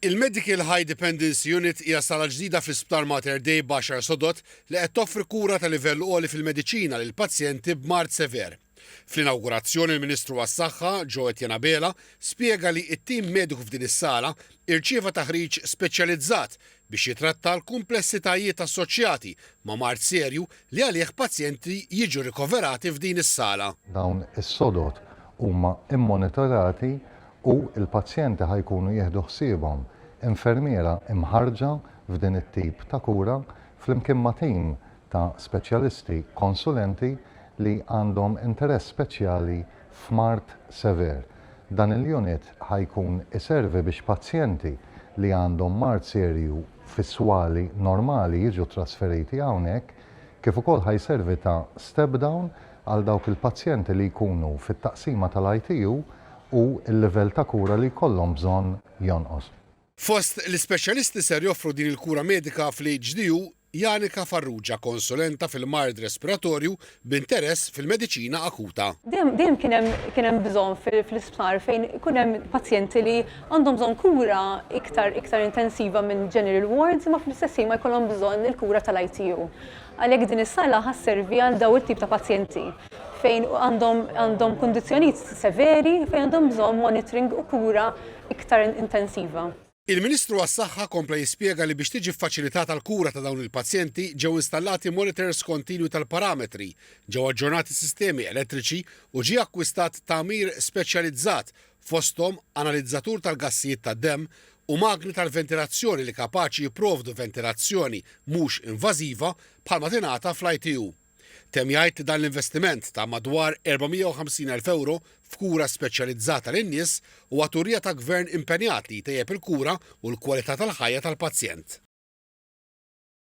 Il-Medical High Dependency Unit hija sala ġdida fl-Isptar Mater Dei b'għaxar sodod li qed toffri kura ta' livell għoli fil-mediċina lil pazjenti b'mard sever. Fl-inawgurazzjoni il-Ministru għas-Saħħa, Joe Etienne Abela, spjega li t-tim mediku f'din is-sala irċieva taħriġ speċjalizzat biex jitratta l-kumplessitajiet assoċjati ma' mard serju li għalih pazjenti jiġu rikoverati f'din is-sala. Dawn is-sodod huma mmonitorati u l-pazjenti ħa jkunu jieħdu ħsiebhom infermiera mħarrġa f'din it-tip ta' kura flimkien ma' tim ta' speċjalisti konsulenti li għandhom interess speċjali f'mard sever. Dan il-unit ħa jkun iservi biex pazjenti li għandhom mard serju fis-swali normali jiġu ttrasferiti hawnhekk, kif ukoll ħa jservi ta' step down għal dawk il-pazjenti li jkunu fit-taqsima tal-ITU u l-livell ta' kura li jkollhom bżonn jonqos. Fost l-ispeċjalisti ser joffru din il-kura medika fl-HDU Janika Farrugia, konsulenta fil-mard respiratorju b'interess fil-mediċina akuta. Dejjem kien hemm bżonn fl-isptar fejn ikun hemm pazjenti li għandhom bżonn kura iktar iktar intensiva minn general wards imma fl-istess ħin ma jkollhom bżonn il-kura tal-ITU. Għalhekk din is-sala ħa sservi għal dawn it-tip ta' pazjenti fejn għandhom għandhom kundizzjonijiet severi fejn għandhom bżonn monitoring u kura iktar intensiva. Il-Ministru għas-Saħħa kompla jispjega li biex tiġi ffaċilitata l-kura ta' dawn il-pazjenti ġew installati monitors kontinwi tal-parametri, ġew aġġornati sistemi elettriċi u ġie akkwistat tagħmir speċjalizzat, fosthom analizzatur tal-gassijiet tad-demm u magni tal-ventilazzjoni li kapaċi jipprovdu ventilazzjoni mhux invażiva bħalma tingħata fl-ITU. Temm jgħid li dan l-investiment ta' madwar 450 elf ewro f'kura speċjalizzata lin-nies huwa turija ta' Gvern impenjat li jtejjeb il-kura u l-kwalità tal-ħajja tal-pazjent.